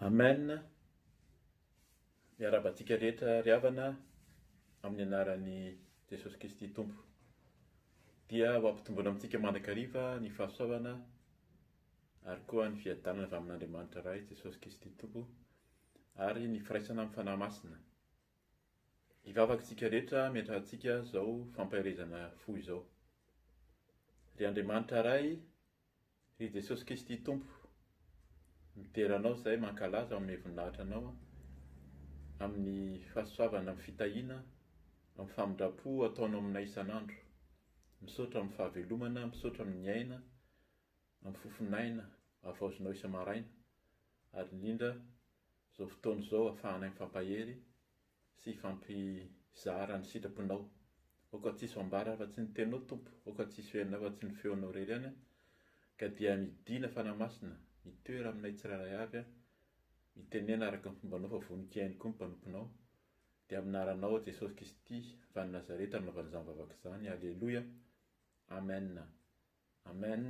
Amen, miarahaba antsika rehetra ry havana amin'ny anaran'i Jesosy Kristy Tompo. Dia ho ampitomboana amintsika mandrakariva ny fahasoavana ary koa ny fiadanana avy amin'Andriamanitra Ray Jesosy Kristy Tompo ary ny firaisana amin'ny fanahy masina. Hivavaka isika rehetra miantrahantsika izao fampaherezana fo izao. Ry Andriamanitra Ray, Ry Jesosy Kristy Tompo, midera Anao izahay mankalaza amin'ny voninahitra Anao an, amin'ny fahasoavana, amin'ny fitahiana, amin'ny famindram-po ataonao aminay isan'andro. Misaotra amin'ny fahavelomana, misaotra amin'ny aina, amin'ny fofon'aina havaozinao isa-maraina, ary indrindra izao fotoana izao afahanay mifampahery sy hifampizara ny sitrapon-ao. Aoka tsy hisy ho ambara afa-tsy ny Teninao, Tompo, aoka tsy hisy ho henona afa-tsy ny Feonao irery ihany aho. Ka dia midìna, Fanahy Masina, mitoera aminay tsirairay avy aho. Mitenena araka ny fombanao fa vonon-kiainy koa ny mpanomponao. Dia amin'ny anaranao, Jesosy Kristy, avy any Nazareta, no nanaovana izany vavaka izany. Aleloia! Amen! Amen!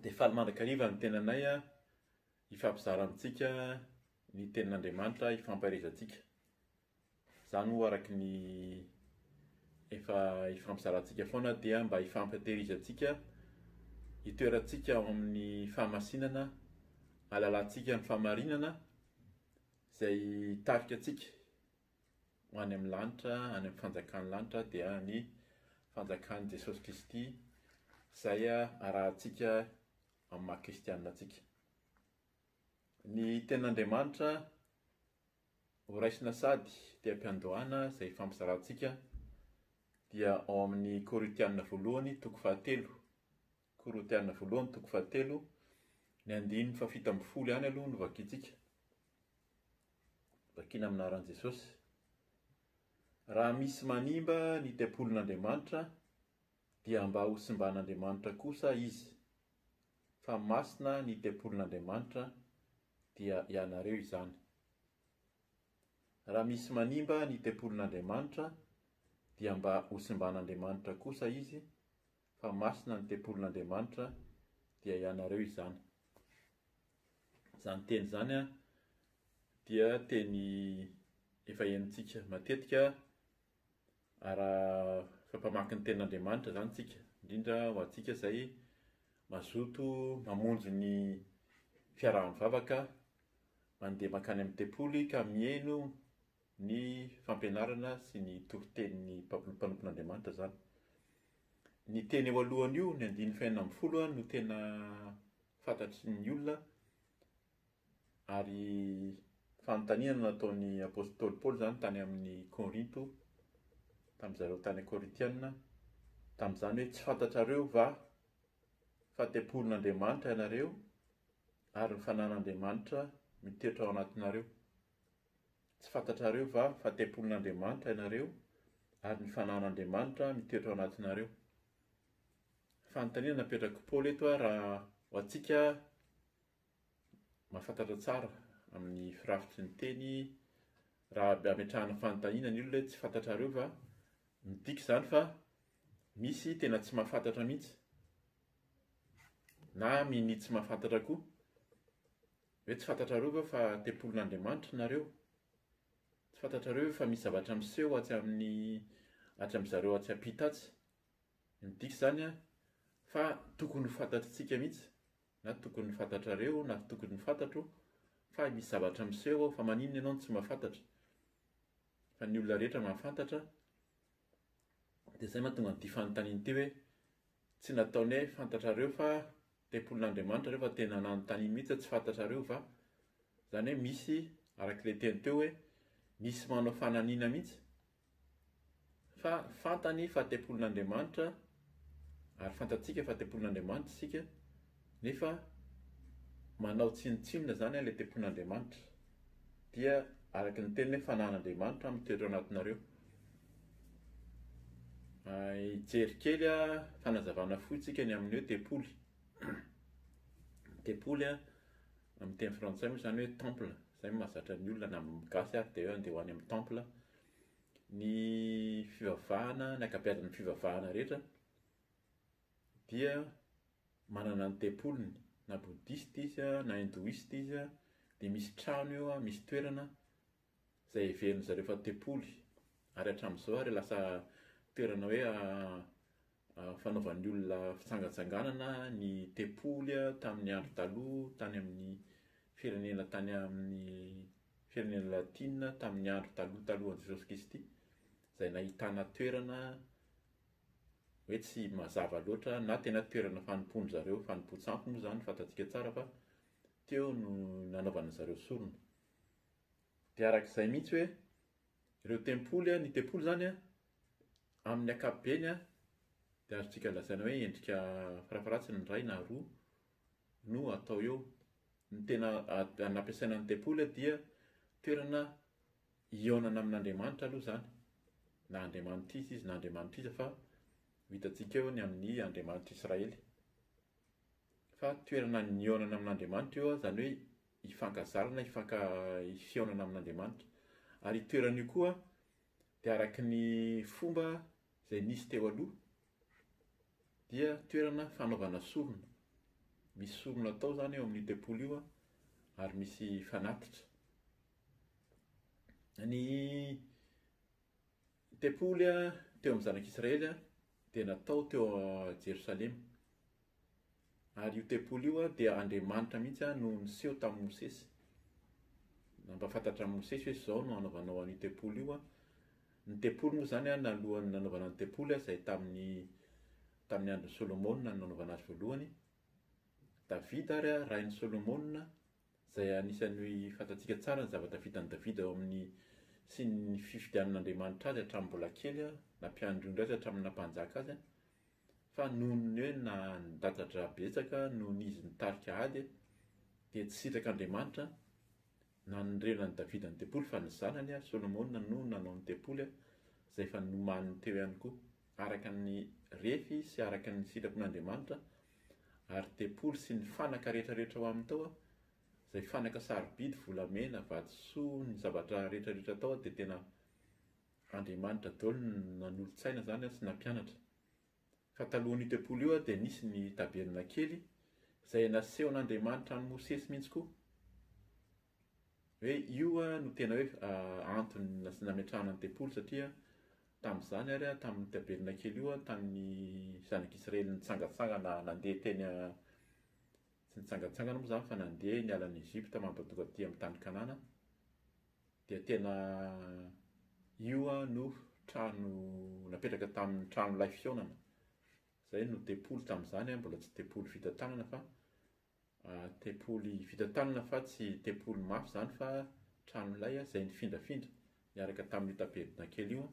Dia faly mandrakariva ny tenanay aho. Hifampizara amintsika ny tenin'Andriamanitra hifampaherezantsika. Izany moa araka ny efa hifampizarantsika foana dia mba hifampihatehirizantsika, hitoerantsika ao amin'ny fahamasinana, hahalalantsika ny fahamarinana izay hitarika antsika ho any amin'ny lanitra, any amin'ny fanjakan'ny lanitra dia ny fanjakan'i Jesosy Kristy izay arahantsika amin'ny maha kristianina antsika. Ny Tenin'Andriamanitra horaisina sady teha-piandohana izay ifampizarantsika dia ao amin'ny Korintianina voalohany toko fahatelo, Korintianina voalohany toko fahatelo, ny andininy fahafito ambin'ny folo ihany aloha no vakintsika. Vakina amin'ny anaran'i Jesosy. Raha misy manimba ny tempolin'Andriamanitra, dia mba ho simban'Andriamanitra kosa izy, fa masina ny tempolin'Andriamanitra, dia ianareo izany. Raha misy manimba ny tempolin'Andriamanitra, dia mba ho simban'Andriamanitra kosa izy, fa masina ny tempolin'Andriamanitra, dia ianareo izany. Izany teny izany dia teny efa henontsika matetika Araka mpamaky ny Tenin'Andriamanitra izany isika, indrindra ho antsika izay mazoto mamonjy ny fiaraha-mivavaka, mandeha mankany amin'ny tempoly ka mihaino ny fampianarana sy ny toritenin'ny mpanompon'Andriamanitra izany. Ny teny eo alohany io, ny andininy fahenina ambin'ny folo, no tena fantatry ny olona. Ary fanontaniana no nataon'ny apostoly Paoly izany tany amin'ny Korinto, tamin-dry zareo tany Korintiana, tamin'izany hoe, Tsy fantatrareo va fa tempolin'Andriamanitra ianareo ary ny fananan'Andriamanitra mitoetra ao anatinareo? Tsy fantatrareo va fa tempolin'Andriamanitra ianareo ary ny fananan'Andriamanitra mitoetra ao anatinareo? Fanontaniana napetrak'i Paoly eto raha ho antsika mahafantatra tsara amin'ny firafitry ny teny raha ametrahana fanontaniana ny olona hoe tsy fantatrareo va? Midika izany fa misy tena tsy mahafantatra mihitsy na mini tsy mahafantatra koa hoe tsy fantatrareo va fa tempolin'Andriamanitra nareo? Tsy fantatrareo ve fa misy zavatra miseho atsy amin'ny atsy amin'ny zareo atsy ampita atsy? Midika izany fa tokony ho fantatritsika mihitsy. Na tokony fantatrareo na tokony fantatro fa misy zavatra miseho ao fa maninona ianao no tsy mahafantatra fa ny olona rehetra mahafantatra dia izay mahatonga an'ity fanontaniana ity hoe tsy nataony hoe fantatrareo fa tempolin'Andriamanitra ireo fa tena nanontaniany mihitsy hoe tsy fantatrareo va izany hoe misy arak'ilay teny teo hoe misy manao fananina mihitsy Fa fantany fa tempolin'Andriamanitra, ary fantatsika fa tempolin'Andriamanitra isika, nefa manao tsinontsinona izany ilay tempolin'Andriamanitra. Dia araka ny teniny hoe fanan'Andriamanitra mitoetra ao anatinareo. Hijery kely fanazavana fohy isika ny amin'ny hoe tempoly. Tempoly amin'ny teny frantsay moa izany hoe temple. Zay no mahazatra ny olona na ny gasy ary dia hoe andeha ho any amin'ny temple. Ny fivavahana, ny ankabeazan'ny fivavahana rehetra dia manana ny tempoliny, na bouddhiste izy na hindouiste izy dia misy trano eo, misy toerana izay heverin'ny zareo fa tempoly ary hatramin'izao ary lasa toerana hoe fanaovan'ny olona fitsangatsanganana ny tempoly tamin'ny andro taloha tany amin'ny firenena tany amin'ny firenena latina tamin'ny andro taloha talohan'i Jesosy Kristy izay nahitana toerana hoe tsy mazava loatra na tena toerana fanompoan-dry zareo, fanompoan-tsampy moa izany fantatsika tsara fa teo no nanaovana zareo sorona. Dia araka izay mihitsy hoe Ireo tempoly, ny tempoly izany an, amin'ny ankapobeny an, dia azontsika lazaina hoe endrika farafaharatsiny indray na roa no atao eo. Ny tena nampiasaina ny tempoly dia toerana hihaonana amin'Andriamanitra aloha izany, na andriamanitr'iza izy na andriamanitr'iza fa ho hitantsika eo ny amin'ny Andriamanitr'Israely. Fa toerana nihaonana amin'Andriamanitra io an, izany hoe. hifankazarana, hifanka, hihaonana amin'Andriamanitra. Ary io toerana io koa dia araka ny fomba izay nisy teo aloha dia toerana fanaovana sorona. Misy sorona atao izany eo amin'io tempoly io ary misy fanatitra. Ny Ny tempoly teo amin'ny zanak'Israely dia natao teo Jerosalema. Ary io tempoly io dia Andriamanitra mihitsy no niseho tamin'i Mosesy. Nampahafantatra an'i Mosesy hoe izao no hanaovanao an'io tempoly io. Ny tempoly moa izany nalohan'ny nanaovana ny tempoly izay tamin'ny tamin'ny andron'i Solomona no nanaovana azy voalohany. Davida ary rain'i Solomona izay anisan'ny fantatsika tsara ny zavatra vitan'i Davida ao amin'ny sy ny fifidianan'Andriamanitra azy hatramin'ny mbola kely na mpiandry ondry azy hatramin'ny naha-mpanjaka azy, fa noho ny hoe nandatsa-dra betsaka noho ny izy nitarika ady dia tsy sitrak'Andriamanitra nanorenana an'i Davida ny tempoly fa ny zanany Solomona no nanao ny tempoly izay efa nomaniny teo ihany koa. araka ny refy sy araka ny sitrapon'Andriamanitra, ary tempoly sy ny fanaka rehetra rehetra ao aminy tao, izay fanaka sarobidy, volamena, vatosoa, ny zavatra rehetra rehetra tao dia tena Andriamanitra daholo no nanolotsaina izany sy nampianatra. Fa talohan'io tempoly io dia nisy ny tabernakely izay nasehon'Andriamanitra an'i Mosesy mihitsy koa. Hoe io no tena hoe antony nametrahana ny tempoly satria tamin'izany ary tamin'ny tabernakely kely io tamin'ny zanak'Israely nitsangantsangana nandeha teny tsy nitsangantsangana moa izany fa nandeha niala any Egypta mampatonga aty amin'ny tany Kanana dia tena io no trano napetraka tamin'ny tranon'ilay fihaonana. Izay no tempoly tamin'izany, mbola tsy tempoly vita tanana fa Tempoly vita tanana fa tsy tempoly mafy izany fa tranolay izay nifindrafindra niaraka tamin'io taberdina kely io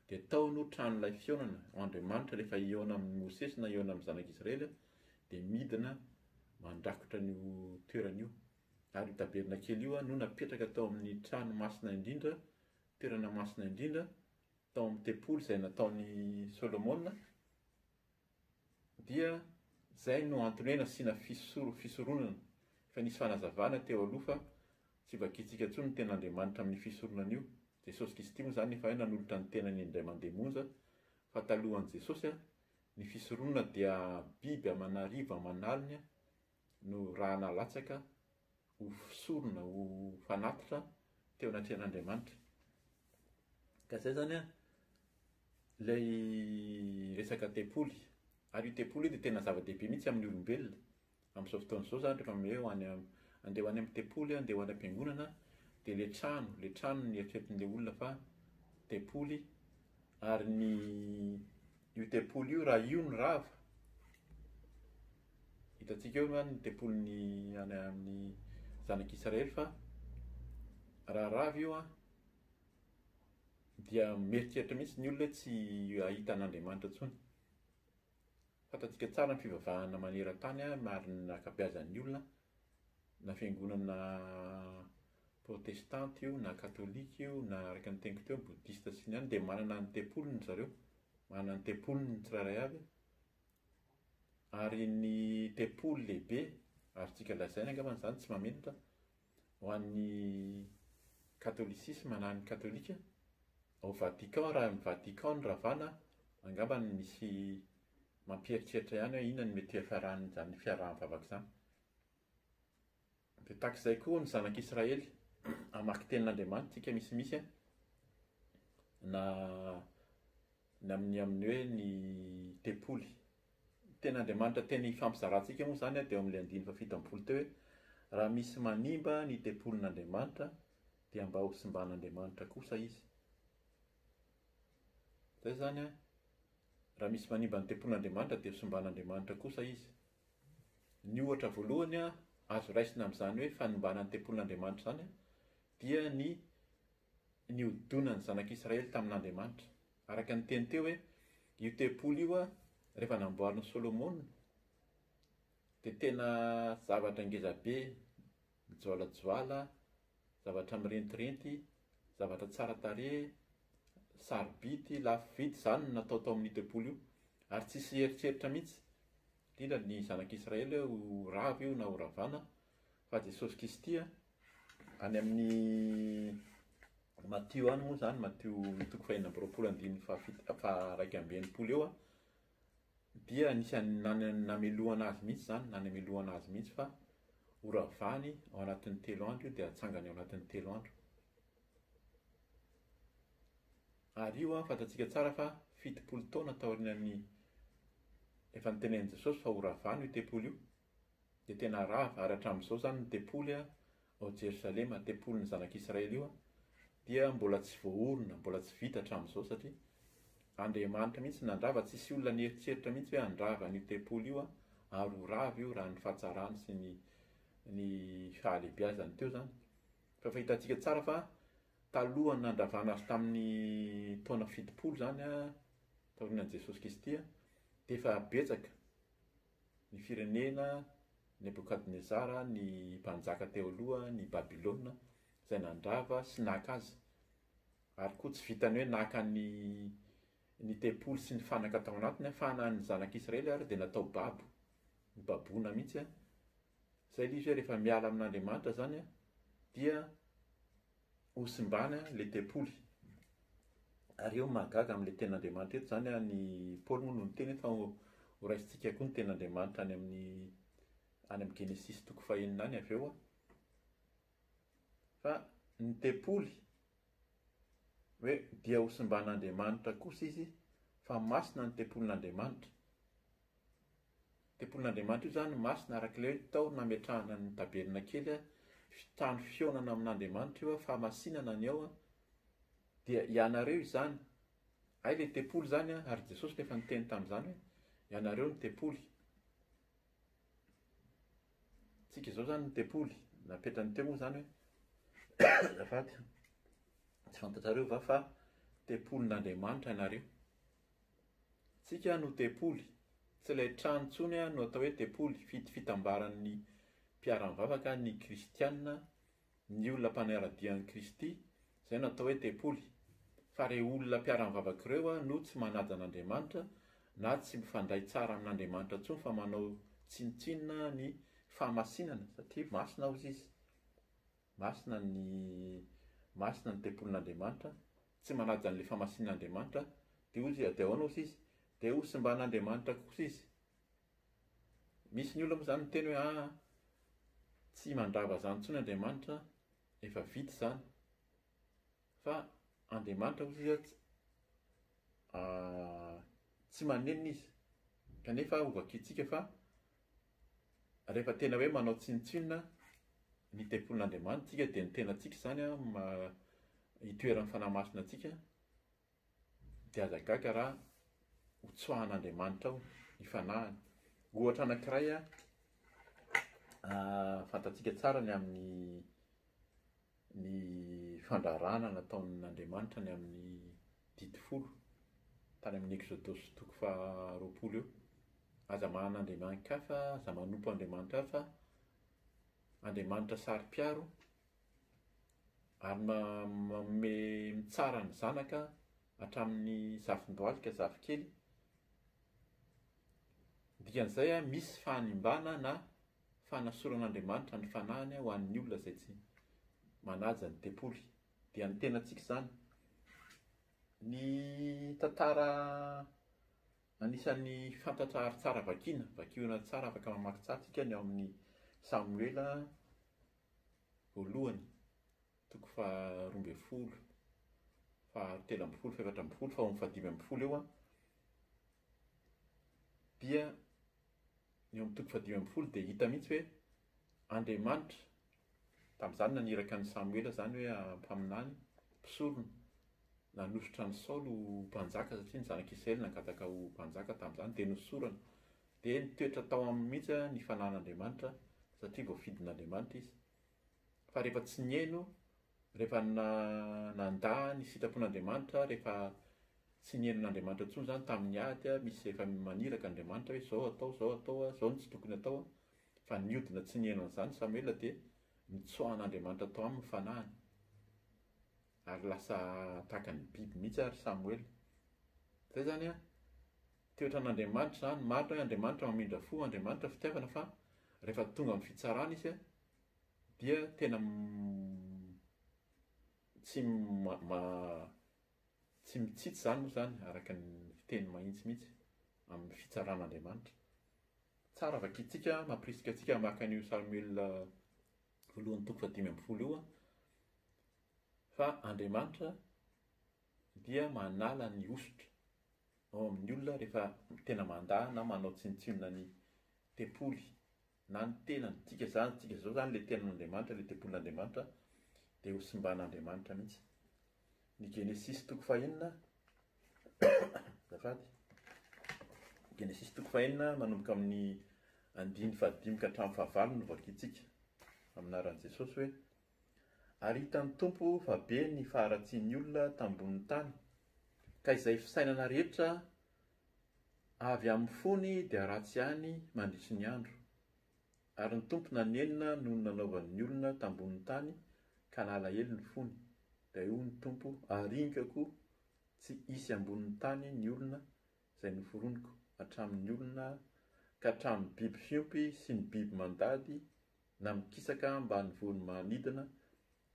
dia tao no tranolay fihaonana Andriamanitra rehefa hihaona amin'i Mosesy na hihaona amin'ny zanak'i Israely dia midina mandrakotra an'io toerana io ary io taberdina kely io no napetraka tao amin'ny trano masina indrindra toerana masina indrindra tao amin'ny tempoly izay nataon'i Solomona Dia izay no antony hoe nasiana fisoronana, efa nisy fanazavana teo aloha fa tsy vakintsika intsony ny ten'Andriamanitra amin'io fisoronana io. Jesosy Kristy moa izany efa hay nanolotra ny tenany indray mandeha monja, fa talohan'i Jesosy, ny fisoronana dia biby aman'arivony aman'aliny, no raha nalatsaka ho sorona, ho fanatitra teo anatrehan'Andriamanitra. Ka izay izany an, ilay resaka tempoly. Ary io tempoly io dia tena zava-dehibe mihitsy amin'ny olombelona. Amin'izao fotoana izao izany rehefa hoe ho any am- andeha ho any amin'ny tempoly aho, andeha ho any am-piangonana, dia ilay trano, ilay trano no eritreretin'ilay olona fa tempoly. Ary ny io tempoly io, raha io no rava, Hitantsika eo angamba ny tempolin'ny any amin'ny zanak'Israely fa raha rava io an, dia mieritreritra mihitsy ny olona hoe tsy hahita an'Andriamanitra intsony. Fantantsika tsara ny fivavahana maneran-tany ary ny ankabeazan'ny olona na fiangonana protestanta io na katolika io na araka ny teniko teo bodista sy ny any dia manana ny tempoliny ry zareo, manana ny tempoliny ny tsirairay avy Ary ny tempoly lehibe, azontsika lazaina angamba izany, tsy mahamenatra, ho an'ny katolisisma na ny katolika, ao Vatican, raha ny Vatican no ravana, angamba misy mampieritreritra ihany hoe inona no mety ho hiafaran'izany fiaraha-mivavaka izany. Dia tahaka izay koa ny zanak' Israely, hamaky tenin' Andriamanitra isika misimisy a, na ny amin' ny amin' ny hoe ny tempoly. Ny tenin' Andriamanitra tena ifampizarantsika moa izany a dia ao amin' ilay andininy fahafito amby-polo teo hoe, Raha misy manimba ny tempolin' Andriamanitra dia mba hosimban' Andriamanitra kosa izy. Izay izany a, raha misy manimba ny tempolin' Andriamanitra dia hosimban' Andriamanitra kosa izy. Ny ohatra voalohany azo raisina amin'izany hoe fanimbana ny tempolin'Andriamanitra izany dia ny nihodonan'ny zanak'Israely tamin'Andriamanitra. Araka ny teny teo hoe io tempoly io rehefa namboarin'i Solomona dia tena zavatra ngezabe mijoalajoala, zavatra mirentirenty, zavatra tsara tarehy, sarobidy, lafo vidy, izany no natao tao amin'io tempoly io. Ary tsy hisy hieritreritra mihitsy, indrindra ny zanak'Israely hoe ho rava io na ho ravana, fa Jesosy Kristy. Any amin'ny Matio any moa izany, Matio toko fahenina amby roapolo andininy fahafito, faha iraika amby enimpolo eo, dia anisan'ny nan- namelohana azy mihitsy izany, nanamelohana azy mihitsy fa horavany ao anatin'ny telo andro io dia hatsangany ao anatin'ny telo andro. Ary io an, fantatsika tsara fa fitopolo taona taorian'ny efa nitenenin'i Jesosy fa horavany io tempoly io, Dia tena rava, ary hatramin'izao izany ny tempoly ao Jerosalema, tempolin'ny zanak'Israely io, dia mbola tsy voaorina, mbola tsy vita hatramin'izao, satria Andriamanitra mihitsy no nandrava, tsy hisy olona nieritreritra mihitsy hoe handrava an'io tempoly io, ary ho rava io raha ny fahatsarany sy ny ny fahalehibiazany teo izany. Fa efa hitantsika tsara fa talohan'ny nandravana azy tamin'ny taona fitopolo izany, taorianan'i Jesosy Kristy, dia efa betsaka, Ny firenena Nebokadnezara ny mpanjaka teo aloha ny Babylona izay nandrava sy naka azy. Ary koa tsy vitan'ny hoe naka ny ny tempoly sy ny fanaka tao anatiny fa na ny zanak'Israely ary dia natao babo, nobaboina mihitsy. Izay ilay izy hoe rehefa miala amin'Andriamanitra izany dia Ho simbany an le tempoly. Ary eo mahagaga amin'ilay tenin'Andriamanitra eto izany an, i Paoly moa no niteny eto fa horaisintsika koa ny tenin'Andriamanitra any amin'ny any amin'ny Genesisy toko fahenina any avy eo an. Fa ny tempoly hoe dia hosimban'Andriamanitra kosa izy fa masina ny tempolin'Andriamanitra. Tempolin'Andriamanitra io izany no masina, araka ilay hoe ny tao nametrahana ny tabernakely, trano fihaonana amin'Andriamanitra io, fahamasinana ny ao, dia ianareo izany. Hay ilay tempoly izany an, ary Jesosy no efa niteny tamin'izany hoe ianareo no tempoly. Tsika izao izany no tempoly, napetrany teo moa izany hoe azafady, tsy fantatrareo va fa tempolin'Andriamanitra ianareo? Tsika no tempoly, tsy ilay trano intsony no atao hoe tempoly, fid fitambaran'ny mpiara-mivavaka ny kristiana, ny olona mpanara-dia an'i Kristy, izay no atao hoe tempoly, fa ireo olona mpiara-mivavaka ireo no tsy manaja an'Andriamanitra na tsy mifandray tsara amin'Andriamanitra intsony fa manao tsinontsinona ny fahamasinana satria masina hozy izy. Masina ny Masina ny tempolin'Andriamanitra, tsy manaja an'ilay fahamasinan'Andriamanitra, dia hoy Izy, dia ahoana osa izy? Dia hosimban'Andriamanitra kosa izy. Misy ny olona moa izany miteny hoe aa, tsy mandrava izany intsony Andriamanitra, efa vita izany. Fa Andriamanitra hoy Izy tsy tsy manenina Izy, kanefa hovakintsika fa Rehefa tena hoe manao tsinontsinona ny tempolin'Andriamanitra isika dia ny tenantsika izany no itoeran'ny fanahy masina antsika dia aza gaga raha ho tsoahan'Andriamanitra ao ny fanahiny. Ohatra anankiray fantatsika tsara ny amin'ny ny fandraharahana nataon'Andriamanitra ny amin'ny Didy Folo, tany amin'ny Eksodosy toko faharoapolo eo. Aza mahana andriamani-kafa, aza manompo andriamanitra hafa, andriamanitra saro-piaro, ary manome mitsara ny zanaka hatramin'ny zafin-dohalika, zafikely. Dikan'izay, misy fahanimbana na fanasoran'Andriamanitra ny fanahiny ho an'ny olona izay tsy manaja ny tempoly, dia ny tenantsika izany. Ny tantara anisan'ny fantatra ary tsara vakiana, vakio tsara afaka mamaky tsara isika ny ao amin'ny Samoela voalohany toko faharoa ambin'ny folo, fahatelo ambin'ny folo, fahefatra ambin'ny folo, faharoa, fahadimy ambin'ny folo eo dia Ny eo amin'ny toko fahadimy ambin'ny folo dia hita mihitsy hoe Andriamanitra, tamin'izany naniraka an'i Samoela izany hoe mpaminany, mpisorona, nanosotra an'i Saoly ho mpanjaka satria ny zanak'i Israely nangataka ho mpanjaka tamin'izany dia nosorana. Dia nitoetra tao aminy mihitsy ny fanan'Andriamanitra satria voafidin'Andriamanitra izy. Fa rehefa tsy nihaino, rehefa nandà ny sitrapon'Andriamanitra, rehefa tsy nihaino an'Andriamanitra intsony izany tamin'ny ady, misy efa maniraka Andriamanitra hoe izao atao, izao atao, izao no tsy tokony atao, fa niodina tsy nihaino an'izany Samoela dia nitsoahan'Andriamanitra tao aminy ny fanahiny. Ary lasa tahaka ny biby mihitsy ary Samoela. Izay izany an, toetran'Andriamanitra izany. Marina hoe Andriamanitra mamindra fo, Andriamanitra fitiavana fa rehefa tonga amin'ny fitsarana izy an, dia tena tsy tsy mitsitsy izany moa izany araka ny fiteny mahitsy mihitsy amin'ny fitsaran'Andriamanitra. Tsara vakintsika, mampirisika antsika hamaky an'io Samoela voalohany toko fahadimy ambin'ny folo io fa Andriamanitra dia manala ny hosotra ao amin'ny olona rehefa tena mandà na manao tsinontsinona ny tempoly na ny tena midika izany tsika izao izany ilay tenin'Andriamanitra, ilay tempolin'Andriamanitra dia ho simban'Andriamanitra mihitsy. Ny Genesisy toko fahenina, azafady, Genesisy toko fahenina manomboka amin'ny andiny fahadimy ka hatramin'ny fahavalo no vakintsika amin'aran'i Jesosy hoe ary hitan'ny Tompo fa be ny faharatsian'ny olona tambonin'ny tany ka izay fisainana rehetra Avy amin'ny fony dia ratsy ihany mandritry ny andro. Ary ny Tompo nanenina noho ny nanaovany ny olona tambonin'ny tany ka nalahelo ny fony. Dia hoy ny Tompo, Aringako tsy hisy ambonin'ny tany ny olona izay noforoniko, hatramin'ny olona ka hatramin'ny biby fiompy sy ny biby mandady na mikisaka ambany vohon'ny manidina,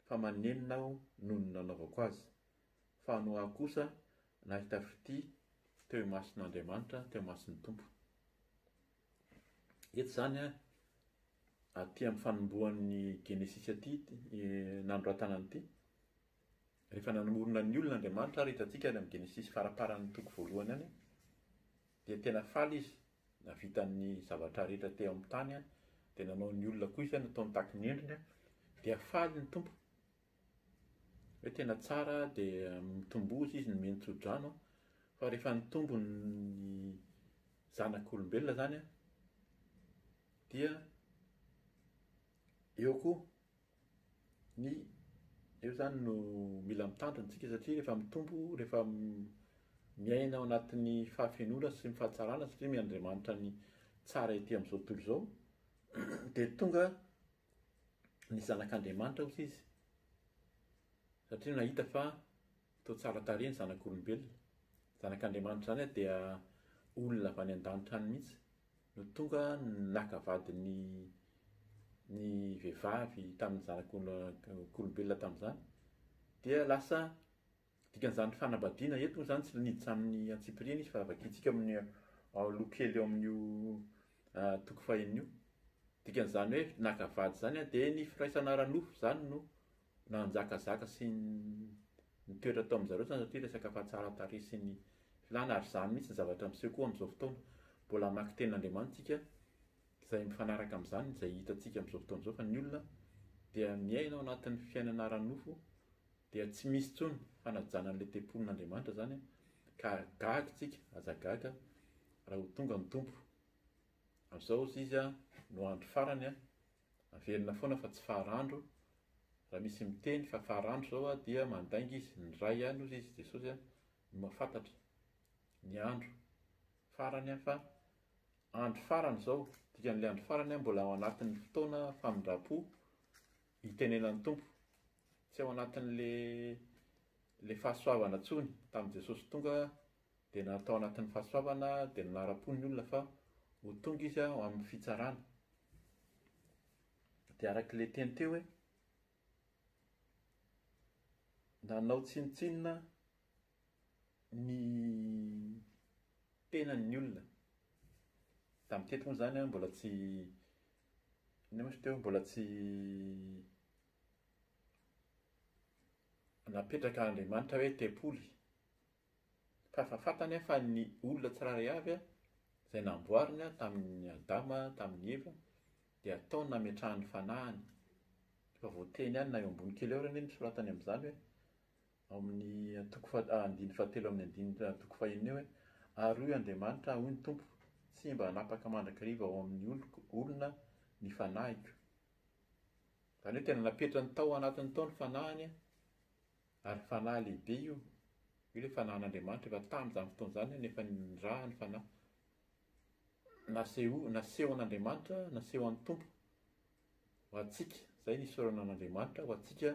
fa manenina Aho noho ny nanaovako azy. Fa no aho kosa nahita fitia teo imason'Andriamanitra, teo imason'ny Tompo. Eto izany, aty amin'ny fanombohan'ny Genesisy aty, nanoratana an'ity, rehefa nanomorona ny olona Andriamanitra ary hitantsika any amin'ny Genesisy faraparan'ny toko voalohany any, dia tena faly izy, nahavita ny zavatra rehetra teo amin'ny tany, dia nanao ny olona koa izy, nataony tahaka ny endriny, dia faly ny Tompo. Hoe tena tsara dia mitomboza izy ny mino tsodrano an, fa rehefa nitombo ny zanak'olombelona izany an, dia eo koa ny, eo izany no mila mitandrina isika satria rehefa mitombo, rehefa miaina ao anatin'ny fahafenoana sy ny fahatsarana satria omen'Andriamanitra ny tsara ety amin'izao tontolo izao, dia tonga ny Zanak'Andriamanitra osa izy, satria nahita fa toa tsara tarehy ny zanak'olombelona. Ny Zanak'Andriamanitra izany dia olona avy any an-danitra any mihitsy no tonga naka vady ny ny vehivavy tamin'ny zanak'olombelona tamin'izany, dia lasa Dikan'izany fanambadiana eto moa izany tsy niditra amin'ny antsipiriany izy fa vakintsika amin'ny loha kely eo amin'io toko fahiny io. Dikan'izany hoe naka vady izany dia ny firaisana ara-nofo izany no nanjakazaka sy nitoetra tao amin'izareo izany satria resaka fahatsaran-tarehy sy ny filàna ary izany mihitsy ny zavatra miseho koa amin'izao fotoana. Mbola hamaky tenin'Andriamanitra isika izay mifanaraka amin'izany izay hitantsika amin'izao fotoana izao fa ny olona dia miaina ao anatin'ny fiainana ara-nofo Dia tsy misy intsony fanajana an'ilay tempolin'Andriamanitra izany an, ka gaga isika, aza gaga raha ho tonga ny Tompo. Amin'izao hozy Izy no andro farany an, averina foana fa tsy faran'dro, raha misy miteny fa faran'dro izao an dia mandainga izy, ny Ray ihany hozy Izy, Jesosy an, no mahafantatra ny andro farany an, fa andro farany izao, dikan'ilay andro farany an mbola ao anatin'ny fotoana famindram-po Itenenan'ny Tompo. Tsy ao anatin'le le fahasoavana tsony tamin'i Jesosy tonga dia na tao anatin'ny fahasoavana dia nanara-po ny olona fa ho tonga izy ao amin'ny fitsarana. Dia arak'le teny teo hoe nanao tsinontsinona ny tenany ny olona. Tamin'ny teto moa izany mbola tsy Nefa izy teo mbola tsy napetraka Andriamanitra hoe tempoly. Fa efa fantany fa ny olona tsirairay avy izay namboariny tamin'i Adama, tamin'i Eva, dia ataony nametrahany fanahiny. Efa voateny ihany na eo ambony kely eo ary anie ny soratany amin'izany hoe Amin'ny toko faha, andininy fahatelo amin'ny andininy toko fahenina eo hoe, Ary hoy Andriamanitra, hoy ny Tompo, Tsy mba hanapaka mandrakariva ao amin'ny oloko, olona, ny fanahiko. Izany hoe tena napetrany tao anatiny tao ny fanahiny, ary fanahy lehibe io. Io ilay fanahin'Andriamanitra efa tamin'izany fotoana izany no efa niraha ny fanahy. Naseho, nasehon'Andriamanitra, nasehon'ny Tompo. ho antsika, izay ny isaorana an'Andriamanitra ho antsika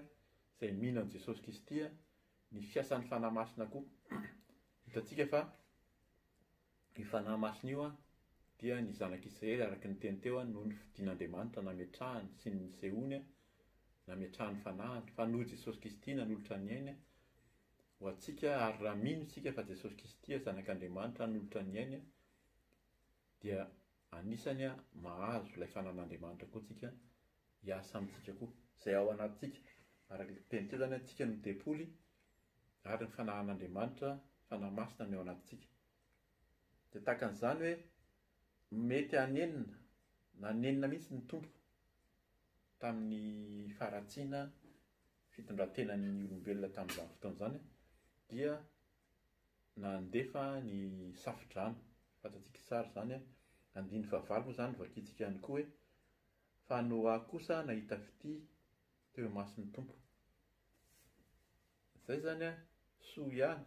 izay mino an'i Jesosy Kristy, ny fiasan'ny Fanahy Masina koa. Hitantsika fa io Fanahy Masina io dia ny zanak'Israely araka ny teny teo noho ny fidin'Andriamanitra nametrahany sy ny nisehoany nametrahany fanahiny fa noho Jesosy Kristy nanolotra ny ainy ho antsika ary raha mino isika fa Jesosy Kristy zanak'Andriamanitra nanolotra ny ainy dia Anisany mahazo ilay fananan'Andriamanitra koa tsika hiasa amintsika koa. Izay ao anatintsika. Araka ny tenintsika izany an, tsika no tempoly ary ny fanahan'Andriamanitra, Fanahy Masina no eo anatintsika. Dia tahaka an'izany hoe mety hanenina, nanenina mihitsy ny Tompo tamin'ny faharatsiana fitondran-tenan'ny olombelona tamin'izany fotoana izany dia Nandefa ny Safodrano, fantatsika i Sary izany a, andininy fahavalo moa izany vakintsika ihany koa hoe, Fa Noa kosa nahita fitia teo imason'ny Tompo. Izay izany a, soa ihany.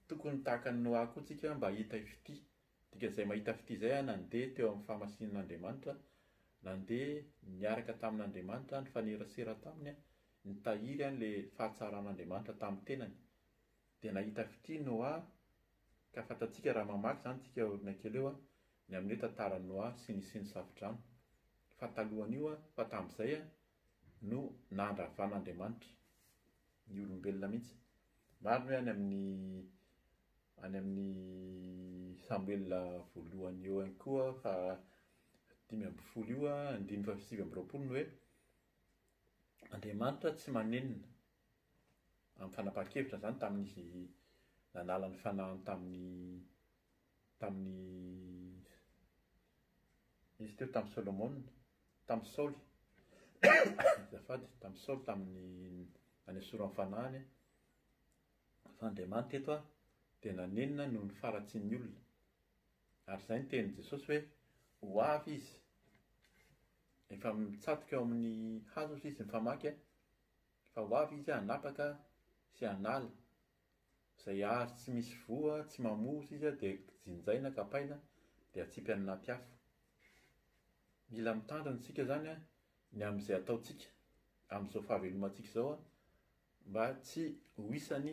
Tokony tahaka an'i Noa koa tsika mba hahita fitia. Dikan'izay mahita fitia izay a, nandeha teo amin'ny fahamasinan'Andriamanitra, nandeha niaraka tamin'Andriamanitra, nifanerasera taminy, Nitahiry an' le fahatsaran' Andriamanitra tamin'ny tenany. Dia nahita fitia Noa, ka fantatsika raha mamaky izany tsika aoriana kely eo ny amin'ny hoe tantaran'i Noa sy ny sy ny Safodrano. Fa talohan'io an, fa tamin'izay an, no nandravan' Andriamanitra ny olombelona mihitsy. Marina hoe any amin'ny any amin'ny Samoela voalohany eo ihany koa faha dimy ambin'ny folo io an, andininy faha sivy amby roapolo ny hoe Andriamanitra tsy manenina. Amin'ny fanapahan-kevitra izany tamin'izy nanala ny fanahiny tamin'i tamin'i izy teo tamin'i Solomona, tamin'i Saoly, azafady, tamin'i Saoly tamin'ny nanesorany ny fanahiny fa Andriamanitra eto dia nanenina noho ny faharatsian'ny olona. Ary izay ny tenin'i Jesosy hoe, Ho avy Izy. Efa mitsatoka eo amin'ny hazo hozy izy mifamaky a! Fa ho avy Izy hanapaka sy hanala. Izay hazo tsy misy voa, tsy mamoa hozy izy dia jinjaina, kapaina, dia atsipy any anaty afo. Mila mitandrina isika izany ny amin'izay ataontsika, amin'izao fahavelomantsika izao a! mba tsy ho isan'ny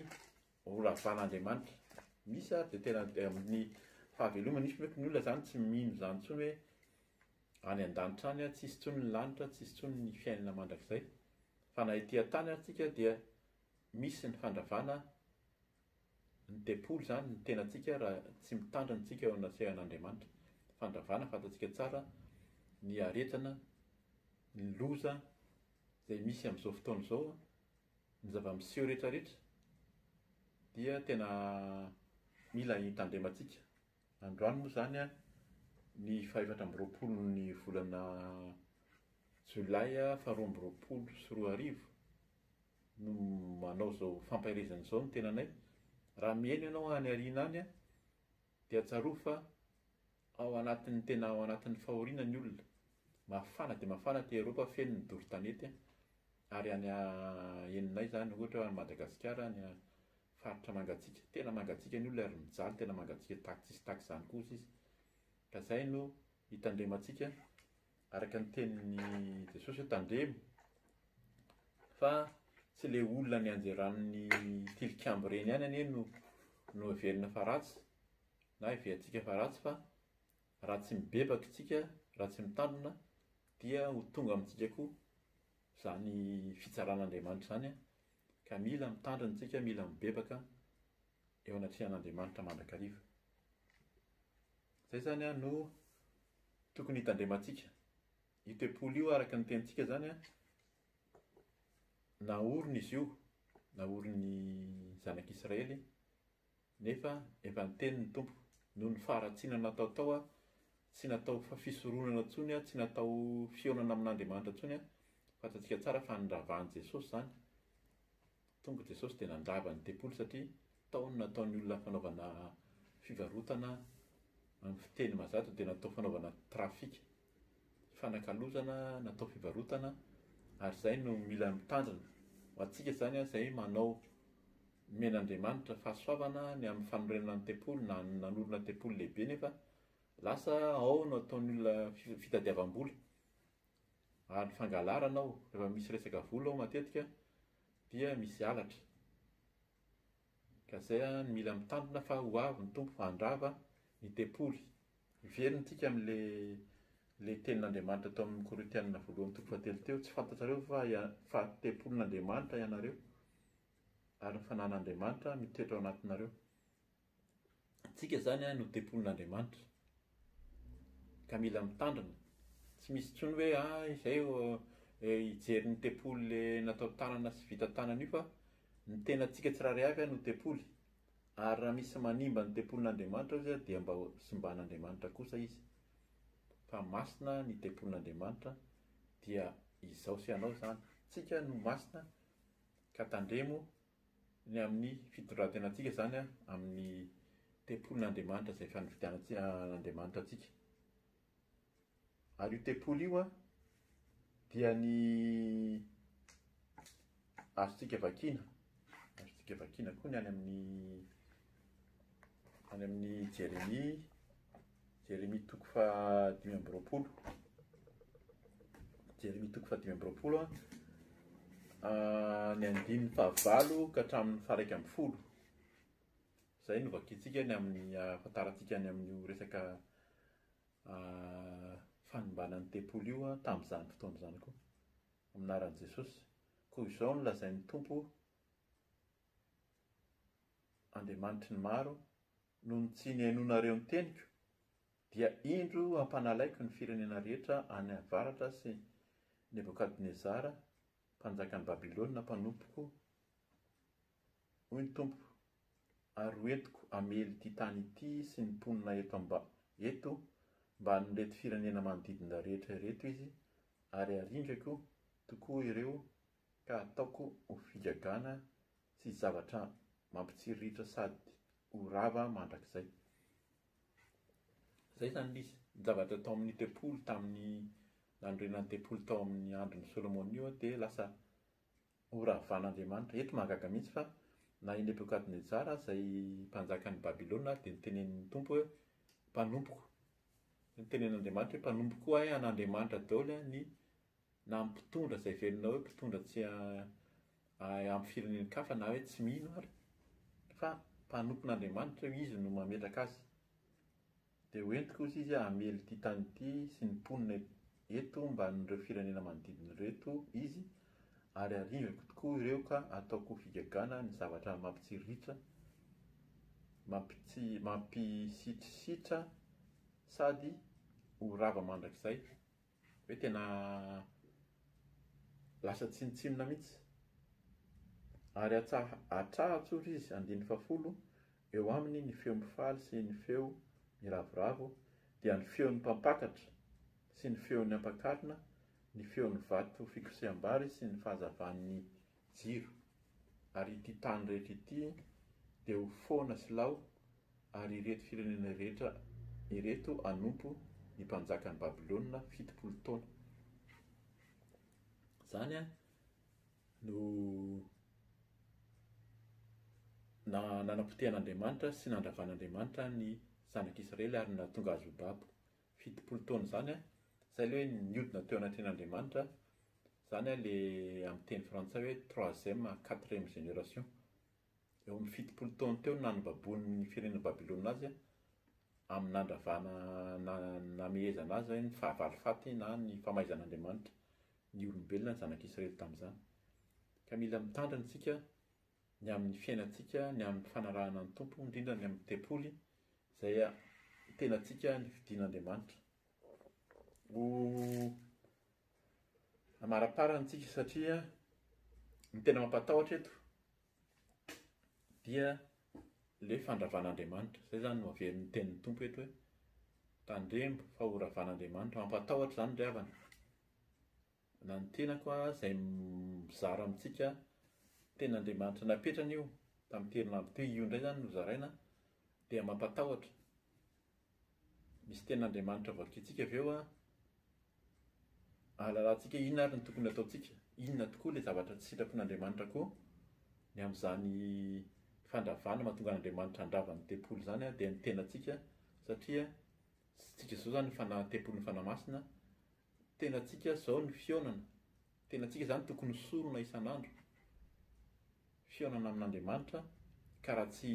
ho ravan'Andriamanitra. Misy ary dia tena dia amin'ny fahavelomany, misy mety ny olona izany tsy mino izany intsony hoe any an-danitra any ary tsisy intsony ny lanitra, tsisy intsony ny fiainana mandrakizay. Fa na ety an-tany ary tsika dia misy ny fandravana ny tempoly izany ny tenantsika raha tsy mitandrina antsika eo anasehan'Andriamanitra. Fandravana fantatsika tsara ny aretina, ny loza. izay misy amin'izao fotoana izao an, ny zava-miseho rehetrarehetra dia tena mila hitandremantsika. Androany moa izany an, ny fahefatra amby roapolon'ny volana jolay faharoa amby roapolo sy roa arivo no manao izao fampaherezana izao ny tenanay. Raha mihaino ianao any aoriana any an, Dia tsarovy fa ao anatin'ny tena ao anatin'ny fahoriana ny olona. Mafana dia mafana aty Eropa feno ny doro tanety a! ary any a eninay izany ohatra hoe any Madagasikara any a faritra mangatsiaka tena mangatsiaka ny olona ary mijaly tena mangatsiaka tahaka tsy hisy tahaka izany kosa izy ka izay no hitandremantsika Araka ny tenin'i Jesosy hoe tandremo fa tsy ilay olona nianjeran'ny tilikambo ireny ihany anie no no heverina fa ratsy na heverintsika fa ratsy fa raha tsy mibebaka isika, raha tsy mitandrina dia ho tonga amintsika koa izany fitsaran'Andriamanitra izany ka mila mitandrina isika, mila mibebaka. eo anatrehan'Andriamanitra mandrakariva. Izay izany an no tokony hitandremantsika. Io tempoly io araka ny tenintsika izany an, naorina izy io, naorin'ny zanak'Israely, nefa efa niteny ny Tompo, noho ny faharatsiana natao tao an, tsy natao fisoronana intsony an, tsy natao fihaonana amin'Andriamanitra intsony an, fantatsika tsara fa niravan'i Jesosy izany. Tonga Jesosy dia nandrava ny tempoly satria tao ny nataon'ny olona fanaovana fivarotana amin'ny fiteny mazato dia natao fanaovana trafic, fanakalozana natao fivarotana ary izay no mila mitandrina. Ho antsika izany izay manao men'Andriamanitra fahasoavana ny amin'ny fanorenana ny tempoly na nanorina tempoly lehibe nefa lasa ao no ataon'ny olona fitadiavam-bola ary fangalarana ao rehefa misy resaka vola ao matetika dia misy halatra. Ka zay no mila mitandrina fa ho avy ny Tompo handrava ny tempoly. Hiverina antsika amin'le le tenin'Andriamanitra tao amin'ny Korintiana voalohany toko fahatelo teo, tsy fantatrareo va fa tempolin'Andriamanitra ianareo ary ny fananan'Andriamanitra mitoetra ao anatinareo. Antsika izany no tempolin'Andriamanitra, ka mila mitandrina. Tsy misy intsony hoe ah izay hijery ny tempoly natao tanana sy vita tanana io fa ny tenantsika tsirairay avy no tempoly. Ary raha misy manimba ny tempolin'Andriamanitra izay dia mba simban'Andriamanitra kosa izy. Fa masina ny tempolin'Andriamanitra dia izaho sy ianao izany. Tsika no masina ka tandremo Ny amin'ny fitondran-tenantsika izany amin'ny tempolin'Andriamanitra izay efa nividianan'Andriamanitra antsika. Ary io tempoly io dia ny azontsika vakiana, azontsika vakiana koa ny any amin'ny any amin'ny Jeremia Jeremia toko faha dimy amby roapolo. Jeremia toko faha dimy amby roapolo a. Ah, ny andininy fahavalo ka hatramin'ny faharaika amby folo. Izay no vakintsika ny amin'ny ahafantarantsika any amin'io resaka ah, fanimbana ny tempoly io ah, tamin'izany fotoana izany koa. Amin'ny anaran'i Jesosy. Koa izao no lazain'ny Tompo, Andriamanitry ny maro, Noho ny tsy nihainoanareo ny teniko, dia indro hampanalaiko ny firenena rehetra any avaratra sy Nebokadnezara, mpanjakan'i Babylona mpanompoko, hoy ny Tompo, ary hoentiko hamely ity tany ity sy ny mponina eto eto ambanin'ireto firenena manodidina rehetra ireto izy, ary haringako tokoa ireo ka hataoko ho figagana Tsisy zavatra mampitsiriritra sady ho rava mandrakizay. Izay izany misy. Ny zavatra tao amin'ny tempoly tamin'ny nanorenan'ny tempoly tao amin'ny andron'i Solomona io dia lasa horavan'Andriamanitra. Eto mahagaga mihitsy fa na i Nebokadnezara izay mpanjakan'i Babylona dia notenenin'ny Tompo hoe mpanompoko. Notenen'Andriamanitra hoe mpanompoko koa ahy an'Andriamanitra daholo ny na amin'ny mpitondra izay velona hoe mpitondra tsy ampy firenen-kafa na hoe tsy mino ary fa mpanompon'Andriamanitra io izy no mametraka azy dia ho entiko ozy izy hamely ity tany ity sy ny mponina eto mban'ireo firenena manodidina ireo eto izy ary arivako tokoa ireo ka ataoko figagana ny zavatra mampitsiriritra mampisitrisitrra sady ho rava mandrakizay Hoe tena lasa tsinontsinona mihitsy. Ary atsaha atraha atsory izy andininy fahafolo eo aminy ny feo mifaly sy ny feo miravoravo dia ny feon'ny mpampakatra sy ny feon'ny ampakarina ny feon'ny vato fikoseham-bary sy ny fahazavan'ny jiro, ary ity tany rehetra ity dia ho foana sy lao, ary ireto firenena rehetra ireto hanompo ny mpanjakan'i Babylona fitopolo taona. Izany no nanapotehan'Andriamanitra sy nandravan'Andriamanitra ny zanak'Israely ary nahatonga azy ho babo. fitopolo taona izany an, izay ilay hoe niodina teo anatrehan' Andriamanitra, izany an ilay amin'ny teny frantsay hoe troisième, quatrième génération. Eo amin'ny fitopolo taona teo no nanobaboin'ny firenena Babylona azy an, amin'ny nandravana na namehezana azy hoe ny fahavalo faty na ny famaizan' Andriamanitra ny olombelona ny zanak'Israely tamin'izany. Ka mila mitandrina isika ny amin'ny fiainantsika, ny amin'ny fanarahana ny Tompo, indrindra ny amin'ny tempoly izay tenantsika nifidin'Andriamanitra. Ho amaraparany tsika satria ny tena mampatahotra eto dia le fandravan'Andriamanitra. Izay zany no averin'ny tenin'ny Tompo eto hoe tandremo fa ho ravan'Andriamanitra. Mampatahotra izany ry havana. Na ny tenako aho izay mizara amintsika, ten'Andriamanitra napetrany io, tamin'ity herinandro ity, io indray izany no zaraina, dia mampatahotra. Misy ten'Andriamanitra vakintsika avy eo an, ahalalantsika inona ary no tokony hataontsika, inona tokoa ilay zavatra tsy sitrapon'Andriamanitra koa. Ny amin'izany fandravana mahatonga an'Andriamanitra handrava ny tempoly izany dia ny tenantsika satria tsy isika izao izany ny fanahy, ny tempolin'ny fanahy masina. Tenantsika zao ny fihaonana, tenantsika zany tokony ho sorona isan'andro, fihaonana amin'Andriamanitra, ka raha tsy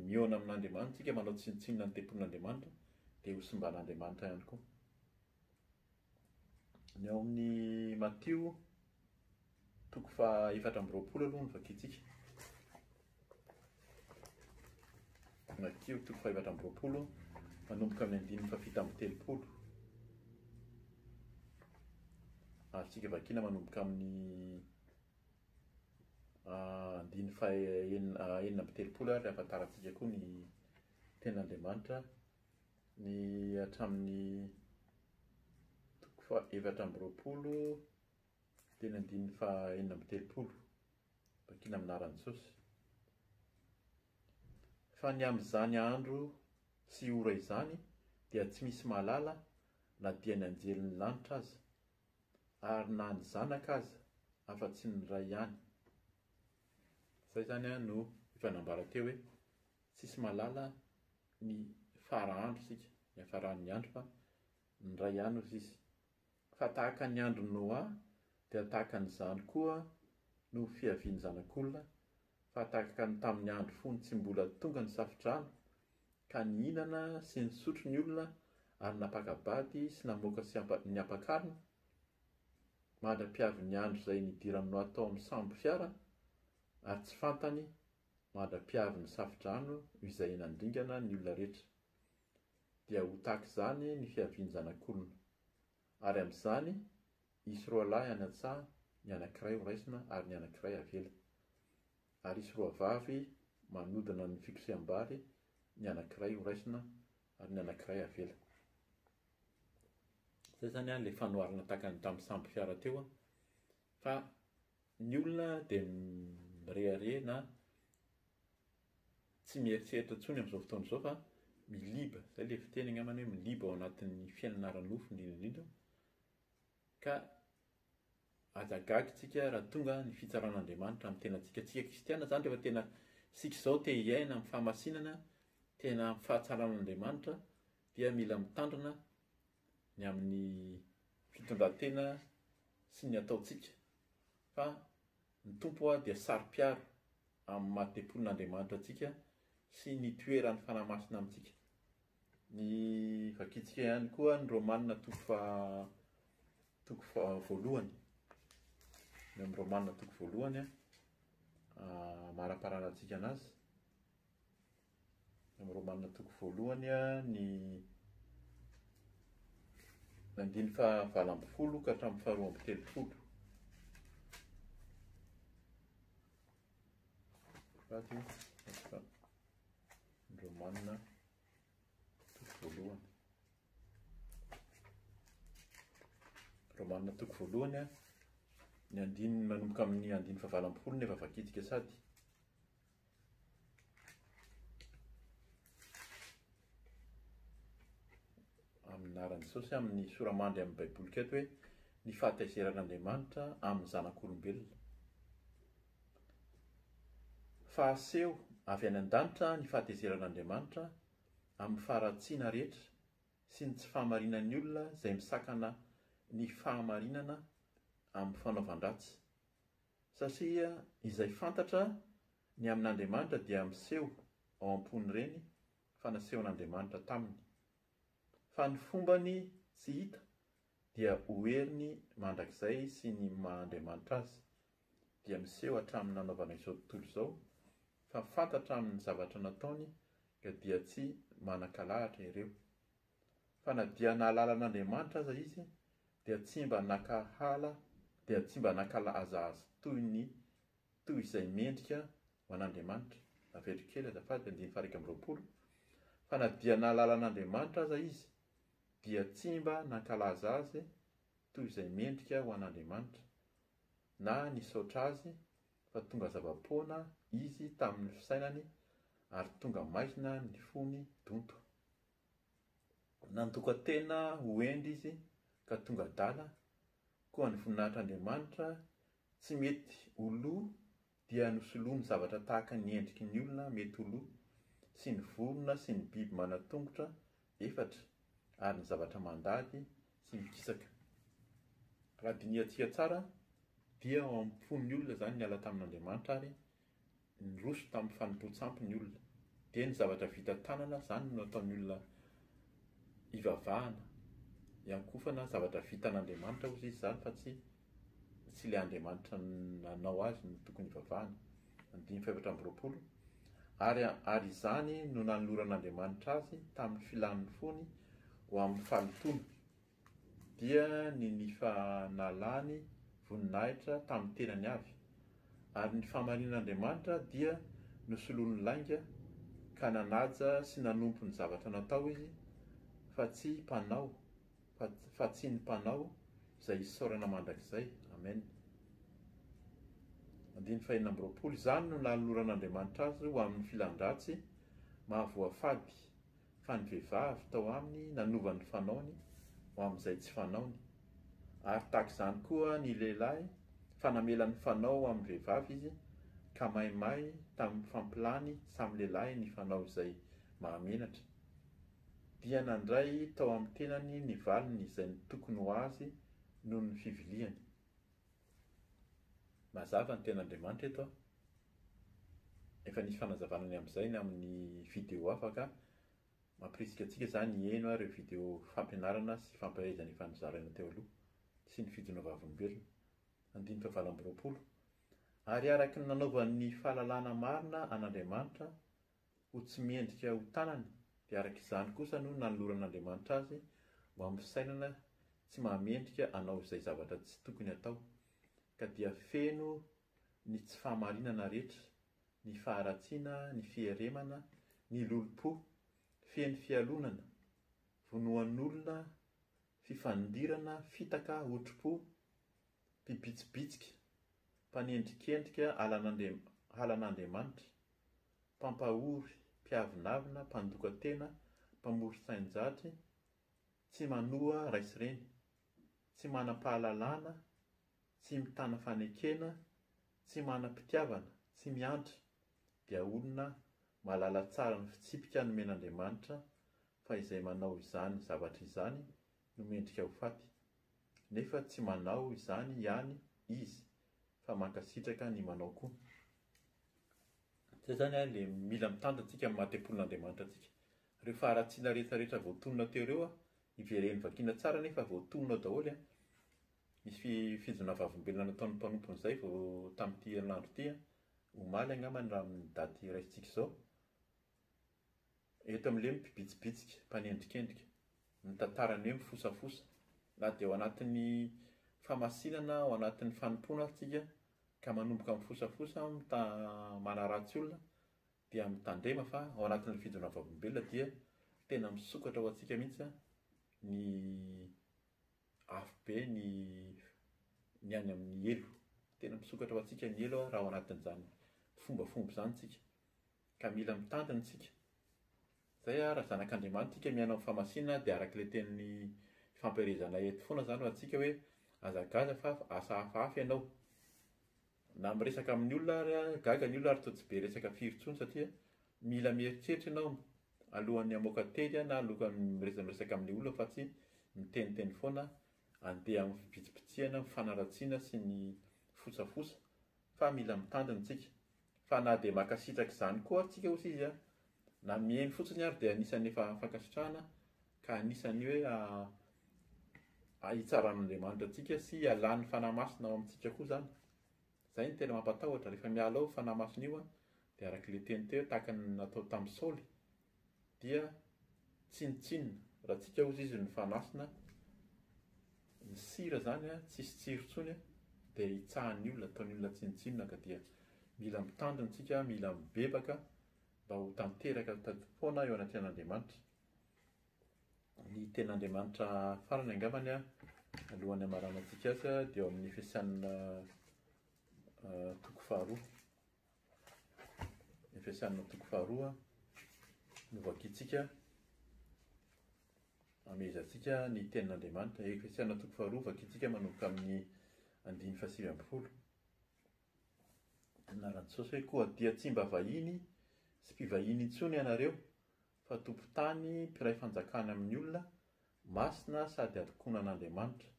mihaona amin'Andriamanitra tsika manao tsinontsinona ny tempolin'Andriamanitra dia ho simban'Andriamanitra ihany koa. Ny ao amin'ny Matio. Toko faha efatra amby roapolo aloha no vakintsika. Makio toko faha efatra amby roapolo manomboka amin'ny andininy faha fito amby telopolo. Azontsika vakina manomboka amin'ny ah, andininy faha enina ah, enina amby telopolo ary ahafantarantsika koa ny ten'Andriamanitra ny hatramin'ny toko faha efatra amby roapolo Teny andininy faha enina amby telopolo, vakina amin'ny anaran'i Jesosy, Fa ny amin'izany andro sy ora izany dia tsy misy mahalala na dia ny anjelin'ny lanitra aza, ary na ny Zanaka aza, afa-tsy ny Ray ihany. Izay izany no efa nambara teo hoe tsisy mahalala ny fara andro isika, ny hafaran'ny andro, fa ny Ray ihany hoy izy. Fa tahaka ny andron'i Noa, dia tahaka an'izany koa no fiavian'ny Zanak'olona, fa tahaka ny tamin'ny andro fony tsy mbola tonga ny Safodrano, ka nihinana sy nisotro ny olona ary nampaka-bady sy namoaka sy ny ampakarina, mandra-piavin'ny andro izay nidiran'i Noa tao amin'ny sambo fiara, ary tsy fantany, mandra-piavin'ny Safodrano izay nandringana ny olona rehetra. dia ho tahaka izany ny fiavian-janak'olona. Ary amin'izany, hisy roalahy any an-tsaha, ny anankiray horaisina ary ny anankiray havela. Ary hisy roavavy manodina ny fikoseham-bary, ny anankiray horaisina ary ny anankiray havela. Izay izany ilay fanoharana tahaka ny tamin'ny sambo fiara teo, fa ny olona dia mirehareha na tsy mieritreritra intsony amin'izao fotoana izao fa miliba, izay ilay fiteny angambany hoe miliba ao anatin'ny fiainana ara-nofo indrindra indrindra, ka aza gaga isika raha tonga ny fitsaran'Andriamanitra amin'ny tenantsika. Isika kristiana izany rehefa tena isika izao te hiaina amin'ny fahamasinana, te hiaina amin'ny fahatsaran'Andriamanitra dia mila mitandrina ny amin'ny fitondran-tena sy ny ataontsika fa Ny Tompo ho'a dia saro-piaro amin'ny maha-tempolin'Andriamanitra antsika sy ny toeran'ny Fanahy Masina amintsika. Ny vakintsika ihany koa ny Romanina toko faha toko faha voalohany. Ny amin'ny Romanina toko voalohany, amaraparana antsika anazy. Amin'ny Romana toko voalohany ny andiny faha valo ambin'ny folo ka hatramin'ny faha roa amby telopolo. Fady fa ny Romana toko voalohany. Romana toko voalohany ny andiny manomboka amin'ny andiny faha valo ambin'ny folo no efa vakitika sady. amin'ny anaran'i Jesosy amin'ny soramandry amin'ny baiboly keto hoe ny fahataizeran'Andriamanitra amin'ny zanak'olombelona. Fahaseho avy any an-danitra ny fahataizeran'Andriamanitra amin'ny faharatsiana rehetra sy ny tsy fahamarinan'ny olona izay misakana ny fahamarinana amin'ny fanaovan-dratsy. Satria izay fantatra ny amin'Andriamanitra dia miseho ao am-pon'ireny fa nasehon'Andriamanitra taminy. Fa ny fombany tsy hita dia ho heriny mandrakizay sy ny maha Andriamanitra Azy dia miseho hatramin'ny nanaovana izao tontolo izao fa fantatra amin'ny zavatra nataony ka dia tsy manan-kalahatra ireo. Fa na dia nahalala an'Andriamanitra aza izy dia tsy mba nakahala dia tsy mba nakalaza Azy toy ny toy izay mendrika ho an'Andriamanitra, Averiko kely azafady, andininy faha iraika amby roapolo, Fa na dia nahalala an'Andriamanitra aza izy dia tsy mba nankalaza Azy toy izay mendrika ho an'Andriamanitra, na nisaotra Azy, fa tonga zava-poana izy tamin'ny fisainany ary tonga maizina ny fony donto. Nandoka-tena ho hendry izy ka tonga adala, koa ny voninahitr'Andriamanitra tsy mety ho lo dia nosoloany zavatra tahaka ny endriky ny olona mety ho lo, sy ny vorona sy ny biby manan-tongotra efatra ary ny zavatra mandady sy mikisaka. Raha dinihantsika tsara dia ao am-pon'ny olona izany niala tamin'Andriamanitra ary niroso tamin'ny fanompoan-tsampy ny olona. Dia ny zavatra vita tanana izany no nataon'ny olona hivavahana, hiankofana, zavatra vitan'Andriamanitra hozy izy izany fa tsy tsy ilay Andriamanitra nanao azy no tokony hivavahana. Andininy fahefatra amby roapolo. Ary, ary izany no nanoloran'Andriamanitra azy tamin'ny filàn'ny fony ho amin'ny fahalotoana. dia ny nifanalany voninahitra tamin'ny tenany avy, ary ny fahamarinan'Andriamanitra dia nosoloany lainga, ka nanaja sy nanompo ny zavatra natao izy, fa tsy mpanao, fa, fa tsy ny mpanao, izay isaorana mandrakizay. Amen. Andininy fahenina amby roapolo, Izany no nanoloran'Andriamanitra azy ho amin'ny filan-dratsy maha voafady, fa ny vehivavy tao aminy nanova ny fanaony ho amin'izay tsy fanaony, ary tahaka izany koa ny lehilahy fa namela ny fanao ho amin'ny vehivavy izy, ka maimay tamin'ny fampilany samy lehilahy ny fanao izay mahamenatra. Dia nandray tao amin'ny tenany ny valiny izay ny tokony ho azy noho ny fiviliany. Mazava ny tenin'Andriamanitra eto an! Efa nisy fanazavana ny amin'izay ny amin'ny video hafa ka mampirisika antsika izany hiheno ary ireo video fampianarana sy fampahaizana efa nozaraina teo aloha sy ny fijonoana vavolombelona, andininy fahavalo amby roapolo, Ary araka ny nanaovan'ny fahalalana marina an'Andriamanitra ho tsy mendrika ho tanana, dia araka izany kosa no nanoloran'Andriamanitra azy ho amin'ny fisainana tsy mahamendrika hanao izay zavatra tsy tokony hatao, ka dia feno ny tsy fahamarinana rehetra, ny faharatsiana, ny fieremana, ny lolompo, feno fialonana, vonoan'olona, fifandirana, fitaka, otrompo, mpibitsibitsika, mpanendrikendrika halan'Andriamanitra. mpampahory, mpiavonavona, mpandoka tena, mpamory sain-jatry, tsy manoa ray sy reny, tsy manam-pahalalana, tsy mitana fanekena, tsy manam-pitiavana, tsy miantra, dia olona mahalala tsara ny fitsipika nomen'Andriamanitra fa izay manao izany zavatra izany no mendrika ho faty, nefa tsy manao izany ihany izy fa mankasitraka ny manao koa. Zay izany an le mila mitandrina antsika amin'ny maha tempolin'Andriamanitra antsika. Reo faharatsiana rehetra rehetra voatonona teo reo an, ivereno vakina tsara anie fa voatonona daholo an, nisy fi fijona vavolombelona nataon'ny mpanompony zay vao tamin'ity herinandro ity an, omaly angambany raha amin'ny daty raisintsika izao, Eto amin'ilay mpibitsibitsika, mpanendrikendrika, mitantara ny hoe mifosafosa, na dia ao anatin'ny famasinana, ao anatin'ny fanompoana ary tsika ka manomboka mifosafosa, mita- manaratsy olona, dia mitandrema fa ao anatin'ilay fijoroana vavolombelona dia tena misokatra ho antsika mihitsy ny afobe, ny ny any amin'ny helo. Tena misokatra ho antsika ny helo raha ao anatin'izany fombafomba izany tsika. Ka mila mitandrina isika. Izay ary raha zanak'Andriamanitra isika miaina amin'ny fahamasinana dia araka ilay teny ifampiherezanay eto foana izany ho antsika hoe aza gaga fa asa hafahafa ianao. Na miresaka amin'ny olona ary aza gaga ny olona ary toa tsy be resaka firy intsony satria mila mieritreritra ianao alohan'ny hamoaka teny na alohan'ny miresadresaka amin'ny olona fa tsy miteniteny foana handeha amin'ny fibitsibitsihana, ny fanaratsiana sy ny fosafosa. fa mila mitandrina tsika, fa na dia makasitraka izany koa tsika ozy izy a, na miheno fotsiny ary dia anisan'ny efa fankasitrahana ka anisan'ny hoe a hitsaran'Andriamanitra antsika sy hialan'ny Fanahy Masina ao amintsika koa izany, izay no tena mampatahotra, rehefa miala ao io Fanahy Masina io a, dia arak'ilay teny teo hoe tahaka ny natao tamin'i Saoly, dia tsinotsinona raha tsika ozy izy no fanasina ny sira zany a tsisy tsiro tsony a dia hitsahan'ny olona ataon'ny olona tsinotsinona ka dia mila mitandrina tsika mila mibebaka mba ho tanteraka tadipoana eo anatrehan'andriamanitra ny ten'andriamanitra farany angambany a alohan'ny amarana tsika azy a dia eo amin'ny efesianina toko faharoa ny fiasan'ny antoko faharoa no vakintsika amehezantsika ny tenin'Andriamanitra. Efesiana toko faharoa vakintsika manomboka amin'ny andiny fahasivy ambin'ny folo. Anaran'i Jesosy hoe koa dia tsy mba vahiny sy mpivahiny intsony ianareo fa tompon-tany, mpiray fanjakana amin'ny olona, masina sady adokona an'Andriamanitra.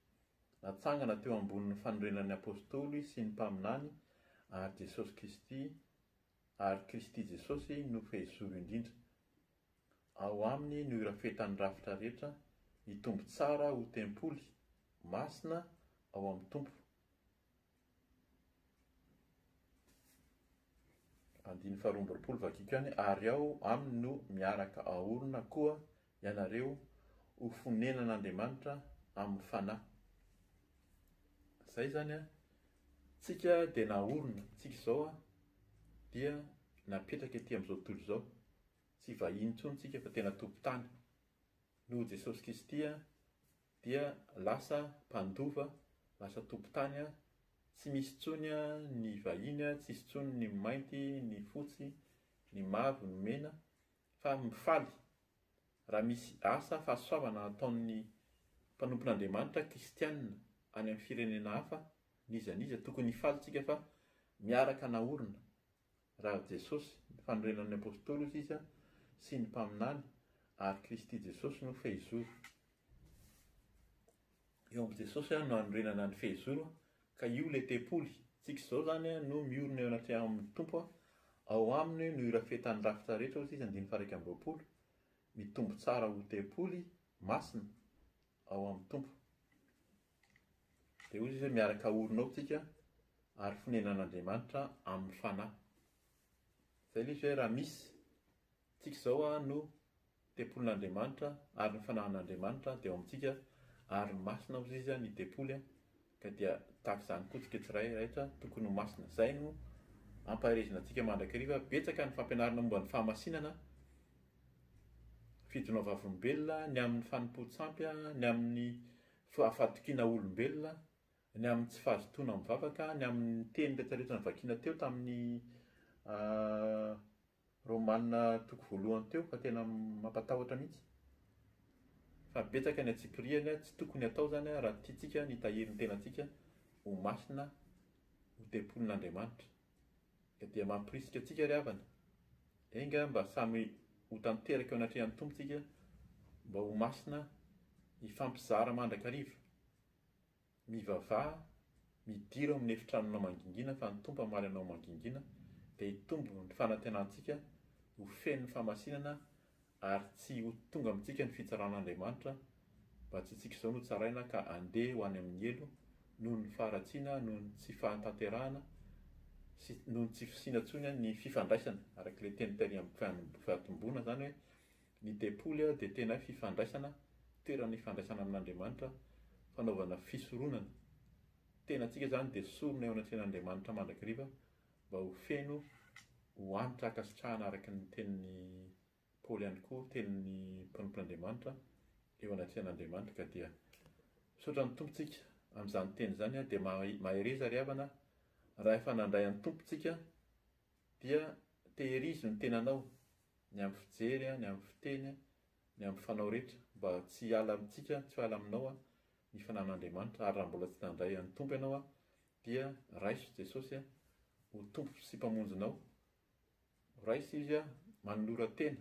Natsangana teo ambonin'ny fanorenan'ny Apôstôly sy ny Mpaminany ary Jesosy Kristy ary Kristy Jesosy no Fehizoro indrindra. Ao Aminy no irafetan'ny rafitra rehetra, hitombo tsara ho tempoly, masina, ao amin'ny Tompo. Andininy faharoa amby roapolo Vakiko any, ary ao aminy no miaraka aorina koa ianareo ho fonenan'Andriamanitra amin'ny Fanahy. Izay izany an, tsika dia naorina, tsika izao an, dia napetraka ety amin'izao tontolo izao, tsy vahiny intsony tsika fa tena tompon-tany, noho Jesosy Kristy an, dia lasa mpandova, lasa tompon-tany, tsy misy intsony ny vahiny, tsy misy intsony ny mainty, ny fotsy, ny mavo, ny mena, fa mifaly raha misy asa fahasoavana ataon'ny mpanompon'Andriamanitra kristianina any amin'ny firenena hafa, n'iza n'iza, tokony hifaly isika fa miaraka naorina Raha Jesosy, ny fanorenan'ny Apostoly hozy izy, sy ny mpaminany, ary Kristy Jesosy no fehizoro. Eo amin'i Jesosy no anorenana ny fehizoro ka io ilay tempoly tsika izao izany no miorina eo anatrehamin'ny Tompo, ao aminy no irafetan'ny rafitra rehetra hozy izy andininy faha-iraika amby roapolo, mitombo tsara ho tempoly masina ao amin'ny Tompo. Dia hoy izy hoe, Miaraka haorina ao tsika ary fonenan'Andriamanitra amin'ny fanahy. Izay ilay izy hoe, Raha misy, tsika izao no tempolin'Andriamanitra ary ny fanahin'Andriamanitra dia ao amintsika ary masina hozy izy ny tempoly ka dia tahaka izany koa tsika tsirairaitra tokony ho masina. Izay no ampaherezina antsika mandrakariva. Betsaka ny fampianarana momba ny fahamasinana, fidonao vavolombelona, ny amin'ny fanompoan-tsampy, ny amin'ny fa fahatokiana olombelona, ny amin'ny tsy fahazotoana mivavaka, ny amin'ny teny retraretra novakiana teo tamin'ny Romana toko voalohany teo fa tena mampatahotra mihitsy. Fa betsaka ny antsipirihany, tsy tokony hatao izany raha tiantsika ny hitahiry ny tenantsika ho masina, ho tempolin'Andriamanitra. Ka dia mampirisika antsika ry havana, enga mba samy ho tanteraka eo anatrehan'ny Tompo isika mba ho masina hifampizara mandrakariva. Mivavaha, midira ao amin'ny efitranonao mangingina fa ny Tompo hamaly anao mangingina dia hitombo ny fanantenantsika ho feno ny famasinana, Ary tsy ho tonga amintsika ny fitsaran'Andriamanitra mba tsy isika izao no tsaraina ka handeha ho any amin'ny helo noho ny faharatsiana, noho ny tsy fahatanterahana sy noho ny tsy fisiana intsony ny fifandraisana. Araka ilay teny tery amin'ny fahatomboana izany hoe ny tempoly dia tena hoe fifandraisana, toerana ifandraisana amin'Andriamanitra, fanaovana fisoronana. Ny tenantsika izany dia sorona eo anatrehan'Andriamanitra mandrakariva Mba ho feno, ho antra ankasitrahana araka ny tenin'i Paoly ihany koa tenin'ny mpanompon'Andriamanitra eo anatrehan'Andriamanitra ka dia misaotra ny Tompo tsika amin'izany teny izany a, dia mahereza ry havana raha efa nandray an'i Tompo tsika dia teherizo ny tenanao ny amin'ny fijery a, ny amin'ny fiteny a, ny amin'ny fanao rehetra mba tsy hiala amintsika, tsy ho ala aminao ny fananan'Andriamanitra ary raha mbola tsy nandray an'i Tompo ianao a, Dia raiso Jesosy ho Tompo sy Mpamonjinao, raiso Izy manolora-tena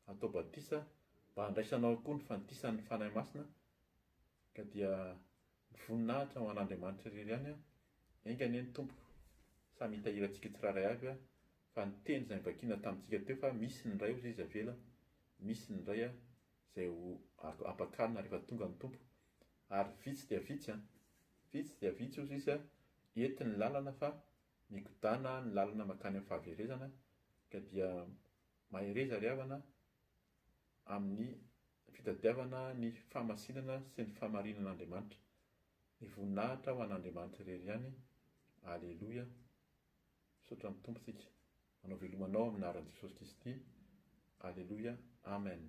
hatao batisa mba handraisanao koa ny fandisan'ny Fanahy Masina, ka dia ny voninahitra ho an'Andriamanitra irery ihany, enga anie ny Tompo samy hitahiry antsika tsirairay avy, fa ny teny izay nivakina tamintsika teo fa misy ny iray hozy izy avela, misy ny iray izay ho ampakarina rehefa tonga ny Tompo, ary vitsy dia vitsy an! Vitsy dia vitsy ozy izy ety ny lalana fa migodana ny lalana makany amin'ny fahaverezana ka dia mahereza ry havana amin'ny fitadiavana ny fahamasinana sy ny famarinin'Andriamanitra. Ny voninahitra ho an'Andriamanitra irery ihany. Aleloia. Misaotra ny Tompo tsika. Manao veloma anao amin'ny anaran'i Jesosy Kristy. Aleloia. Amen.